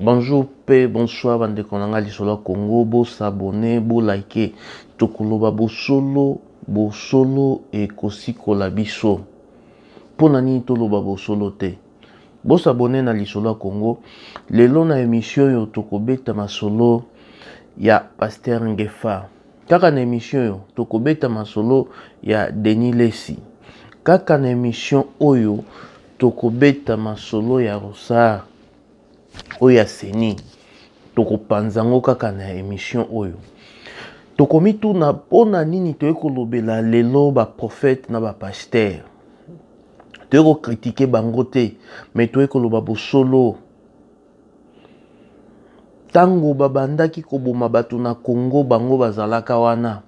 Bonjour pe bonsoir ba ndeko na nga lisolo ya Congo bo s'abonne bo like tokoloba bosolo bosolo ekosikola biso pona nini toloba bosolo te bo s'abonne na lisolo ya Congo lelo na emission oyo tokobeta masolo ya pasteur Ngefa kaka na emission oyo tokobeta masolo ya Denis Lessi kaka na emission oyo Tokobeta masolo ya Ronsard oyo ya ceni tokopanza yango kaka na emission oyo. Tokomituna pona nini toye kolobela lelo ba prophète na ba pasteur. Toye ko critiquer bango te mais toye koloba bosolo. Tango babandaki koboma batu na Congo bango bazalaka wana.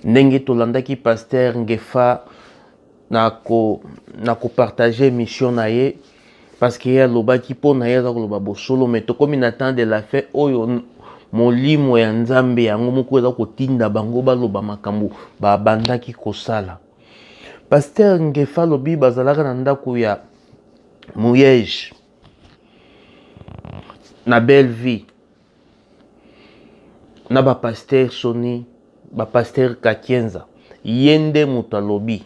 Ndenge tolandaki pasteur Ngefa. na ko na ko partager emission na ye parce que ye alobaki mpo na ye aza koloba bosolo mais tokomi na temps de la fin oyo molimo ya nzambe yango moko eza kotinda bango baloba makambo babandaki kosala paster ngefa alobi bazalaka na ndako ya moyege na belle vie na ba pasteur soni ba pasteur kakienza ye nde moto alobi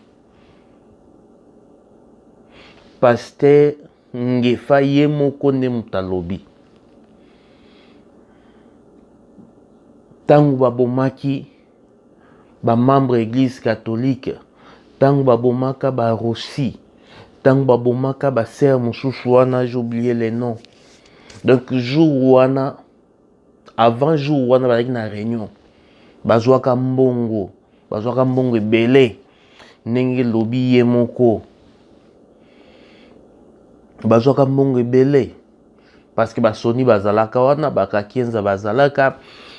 pasteur ngefa ye moko nde moto alobi ntango babomaki Ba membres ya eglise catholique tangu ba bomaka ba Rossy, tangu ba bomaka ba sœurs mususu wana j'ai oublier les noms. Donc jour wana avant jour wana bazalaki na reunion bazwaka mbongo bazwaka mbongo ebele ndenge lobi ye moko bazwaka mbongo ebele parce que ba Sony bazalaka wana ba Kakienza bazalaka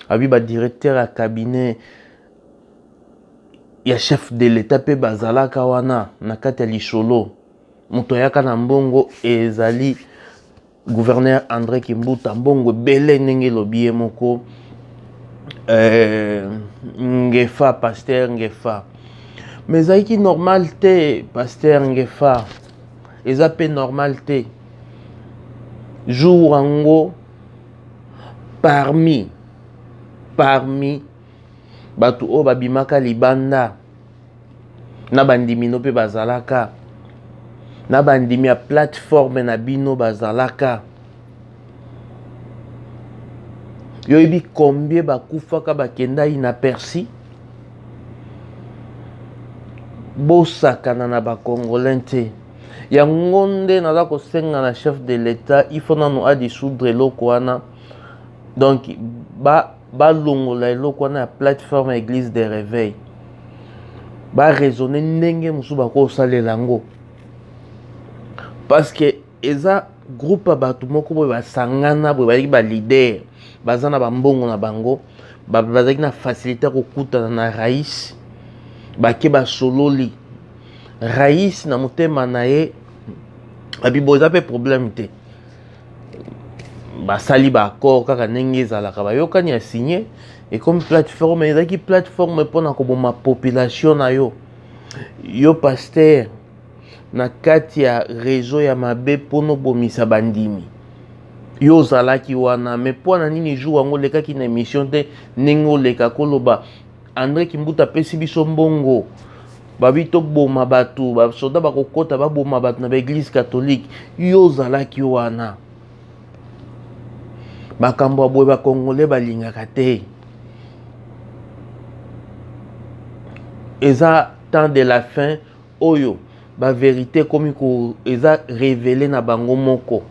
abi ba directeur ya cabinet ya chef de l'etat mpe bazalaka wana na kati ya lisolo moto ayaka na mbongo ezali gouverneur andré kimbuta mbongo ebele ndenge elobi ye moko eh, ngefa pasteur ngefa mais ezalaki normal te pasteur ngefa eza pe normal te jour yango parmi parmi bato oyo babimaka libanda na bandimi no mpe bazalaka na bandimi ya plateforme na bino bazalaka yo oyebi combien bakufaka bakenda inaperci bosakana na bacongolais te yango nde naza kosenga na chef de l'etat ifo nanu adisoudre eloko wana donc balongola ba eloko wana ya plateforme ya église de réveil baraisonne ndenge mosusu bakosalela yango parce que Eza groupe ya batu moko boye ba sangana boye bazalaki ba leader baza na ba mbongo na bango bazalaki na facilite ya kokutana na Rais bake basololi Rais na motema na ye abi boye eza mpe problème te basali ba accord kaka ndenge ezalaka bayokani ya signe ekomi plateforme ezalaki plateforme mpona koboma population na yo yo pasteur na kati ya rezo ya mabe mpona obomisa bandimi yo ozalaki wana me mpo na nini jour yango olekaki na emission te ndenge oleka koloba andre kimbuta apesi biso mbongo babi toboma bato basoda bakokota baboma bato na baeglise katholike yo ozalaki wana makambo ya boye bakongole balingaka te eza temps de la fin Oyo ba verite ekomi ko eza revele na bango moko.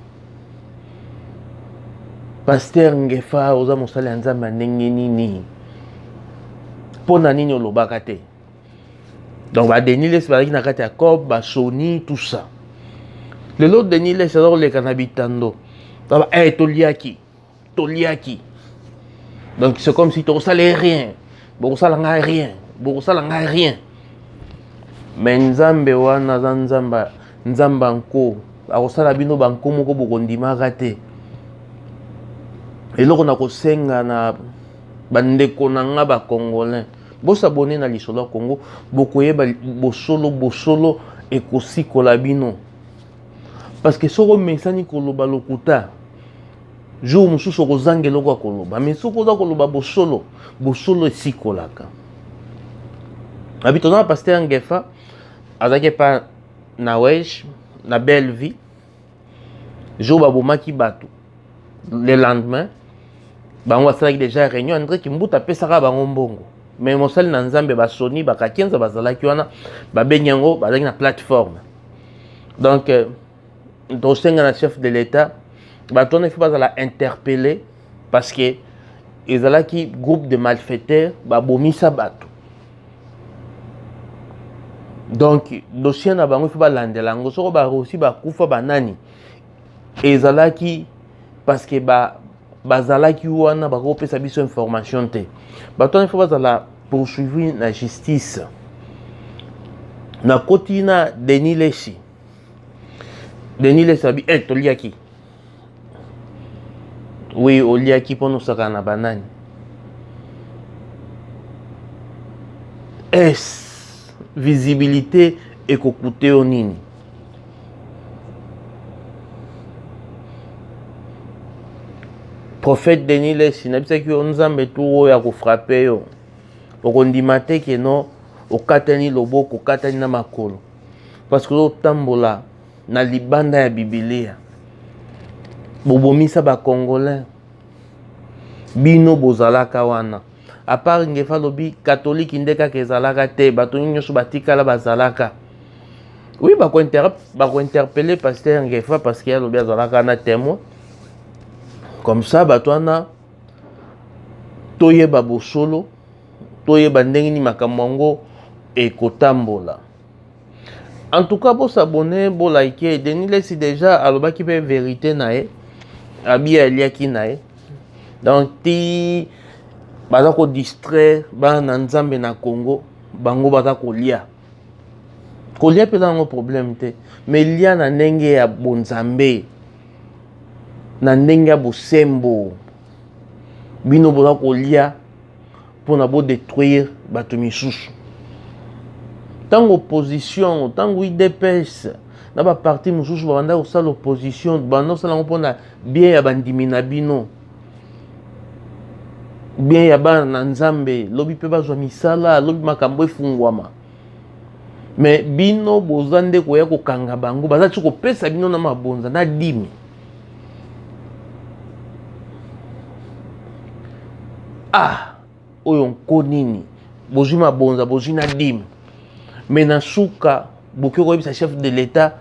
Pasteur Ngefa oza mosali ya Nzambe ya ndenge nini? Mpo na nini olobaka te? Donc ba Denis Lessi bazalaki na kati ya COP, ba Sony, tout ça. Lelo Denis Lessi aza koleka na bitando. Eh, toliaki. toliaki donc c'est comme si tokosala ye rien bokosala ngai rien bokosala ngai rien mais nzambe wana aza nzambe nzambe anko akosala bino banko moko bokondimaka te eloko nakosenga na bandeko na nga bacongolais bosabone na lisolo ya congo bokoyeba bosolo bosolo ekosikola bino Parce que soki omesani koloba lokuta, jour mosusu okozanga eloko ya koloba. Mais soki oza koloba bosolo, bosolo esikolaka. Abi toza na pasteur Ngefa, azalaki epa na Wesh, na belle vie. Jour babomaki bato, le lendemain, bango basalaki déjà réunion, Andre Kimbuta apesaka bango mbongo. Mais mosali na Nzambe basoni, bakakenza bazalaki wana, babengi yango, bazalaki na plateforme. donc euh, tosenga na chef de l'État bato wana ifo bazala interpellé parce que ezalaki groupe de malfaiteurs babomisa bato donc dossier na bango ifo balandela yango soko barosi bakufa banani ezalaki parce que ba bazalaki wana bakoki kopesa biso information te bato wana ifo bazala poursuivi na justice nakoti na denis leshi denis leshi abi e eh, toliaki wi oliaki mpo nosakana na banani es visibilité ekokute yo nini prophète denis lesi nayebisaki yo nzambe tu oyo akofrape yo okondima te keno okatani loboko okatani na makolo parce que ozotambola na libanda ya bibilia bobomisa bacongolais bino bozalaka wana apart ngefa alobi katoliki nde kaka ezalaka te bato nyonso batikala bazalaka oui bakointerpele paster ngefa parce que alobi azalaka na témoin comme ça bato wana toyeba bosolo toyeba ndenge nini makambo yango ekotambola En tout cas, bo s'abonner, bo liker. Denis Lessi déjà alobaki pe vérité na ye. Abi aliaki na ye. Donc ti baza ko distraire bana Nzambe na Congo, bango baza kolia. Kolia pe nango problème te, mais lia na ndenge ya bonzambe. Na ndenge ya bosembo. Bino boza kolia pona bo detruire bato misusu ntango opposition ntango udps na ba parti mosusu babanda kosala opposition banda kosala yango mpona bien ya bandimi na bino bien ya bana na nzambe lobi mpe bazwa misala lobi makambo efungwama me bino boza nde koya kokanga bango baza ti kopesa bino na mabonza na dimi ah oyo nko nini bozwi mabonza bozwi na dime me na suka bokoki koyebisa chef de l'etat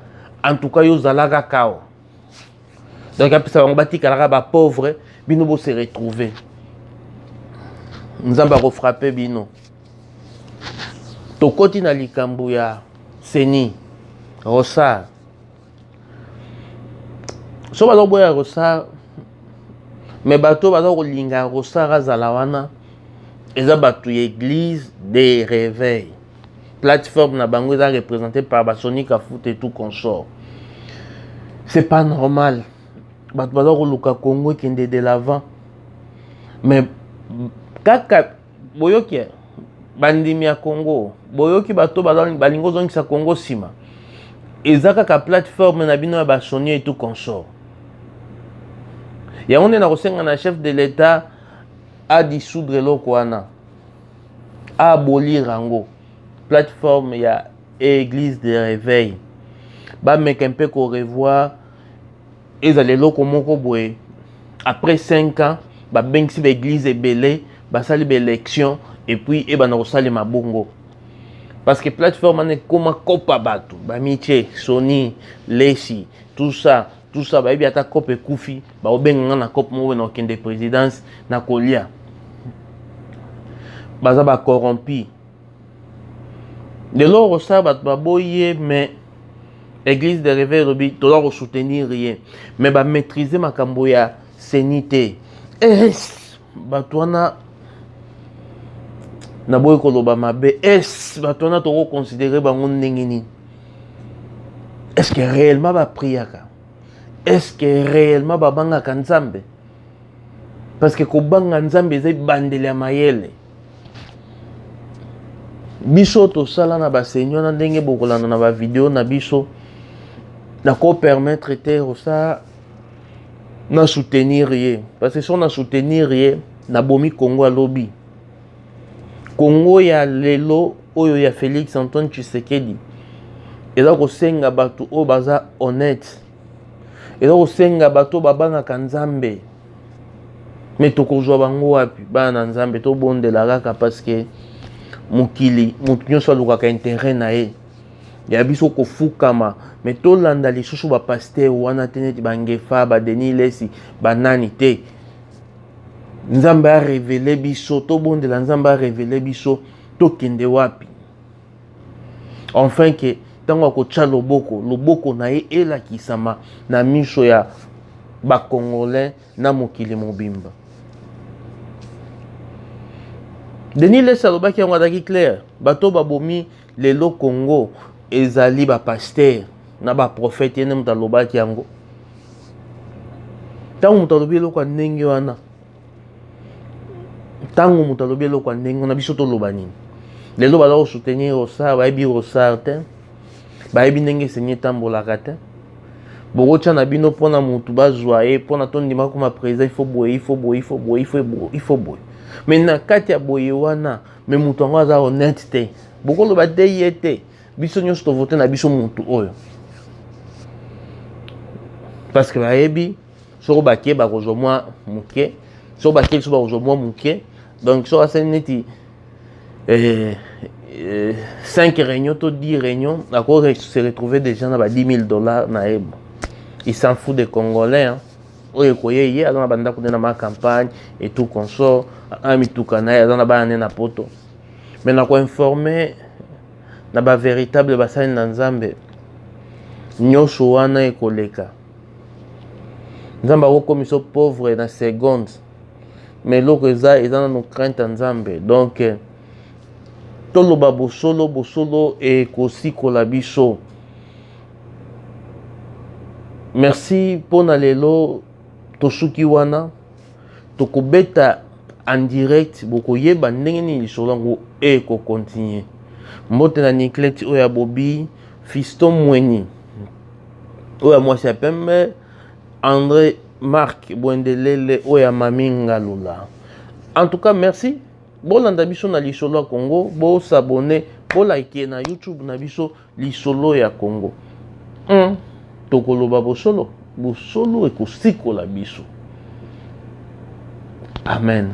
en tout cas yo ozalaka kao donc apesa bango batikalaka bapauvre bino bose retrouve nzambe akofrape bino tokoti na likambo ya seni rosar so baza koboya rosar me bato baza kolinga rosar azala wana eza bato ya église de réveil plateforme na bango eza représente par basonika foot et tout consort c'est pas normal bato baza koluka congo ekende de l'avant mais kaka boyoki eh? bandimi ya congo boyoki bato balingi ozongisa congo nsima eza kaka plateforme na bino ya basoni etu consort yango nde nakosenga na chef de l'etat adisoudre eloko wana abolire yango plateforme ya église de réveil bameka mpe korevoir Ezala eloko moko boye après cinq ans babengisi ba eglise ebele basali ba election epuis ebanda kosalema bongo parce que plateforme wana ekoma kopa bato bamitie soni lesi tout ça tout ça bayebi ata cope ekufi bakobenga nga na cope moko boye na kokende présidence na kolia baza ba corrompi lelo okosala bato baboyi ye mais eglise de reveil elobi toza kosoutenir ye mais bamaîtrise makambo ya seni te es bato wana naboyi koloba mabe es bato wana tokoconsidere bango ndenge nini est ce que réellement bapriaka est ce que réellement babangaka nzambe parce que kobanga nzambe eza ebandeli ya mayele biso tosala na baseni wana ndenge bokolanda na bavideo na biso nakopermettre te osa na soutenir ye parce que so na soutenir ye nabomi kongo ya lobi kongo ya lelo oyo ya félix antoine tshisekedi eza kosenga bato oyo baza honnête eza kosenga bato babangaka nzambe me tokozwa bango wapi bana na nzambe tobondela kaka parceke mokili moto nyonso alukaka intere na ye ya biso kofukama me tolanda lisusu bapaster wana te neti bangefa badeni lesi banani te nzambe arevele biso tobondela nzambe arevele biso tokende wapi Enfin que ntango akotya loboko, loboko na ye elakisama na miso ya bacongolais na mokili mobimba. Denis Lessi alobaki yango azalaki claire, bato babomi lelo Congo ezali bapastere na baprofete, ye nde moto alobaki yango. Ntango moto alobi eloko ya ndenge wana, ntango moto alobi eloko ya ndenge wana biso toloba nini lelo baza kosoutenir rosar bayebi rosar te bayebi ndenge esengi etambolaka te bokotya na bino mpo na motu bazwa ye mpo na tondima koma président ifo boye ifo boye ifo boye ifo boye me na kati ya boye wana me moto yango aza honnête te bokoloba te ye te biso nyonso tovote na biso motu oyo parce que bayebi soko bake bakozwa mwa moke soko bake lisusu bakozwa mwa moke donc soko asali neti 5 eh, eh, réunion to 10 réunion ako se retrouver déjà na ba 10 000 dollars na ye il s'en fout des congolais hein. oyo ekoye ye aza na bandako nde na ma campagne et tout consort a mituka na ye aza na bana nde na poto mais na koinforme na bavéritable basali na nzambe nyonso wana ekoleka nzambe akokomisa yo pauvre na seconde me eloko eza eza nano crainte ya nzambe donc eh, toloba bosolo bosolo ekosikola biso merci mpo na lelo tosuki wana tokobeta en direct bokoyeba ndenge nini lisolo yango ekokontinue mbote na nicleti oyo ya bobi fiston mweni oyo ya mwasi ya pembe andre mark bwendelele oyo ya mami ngalula en tout cas merci bolanda biso na lisolo ya congo bosabone bolike na youtube na biso lisolo ya congo mm. tokoloba bosolo bosolo ekosikola biso amen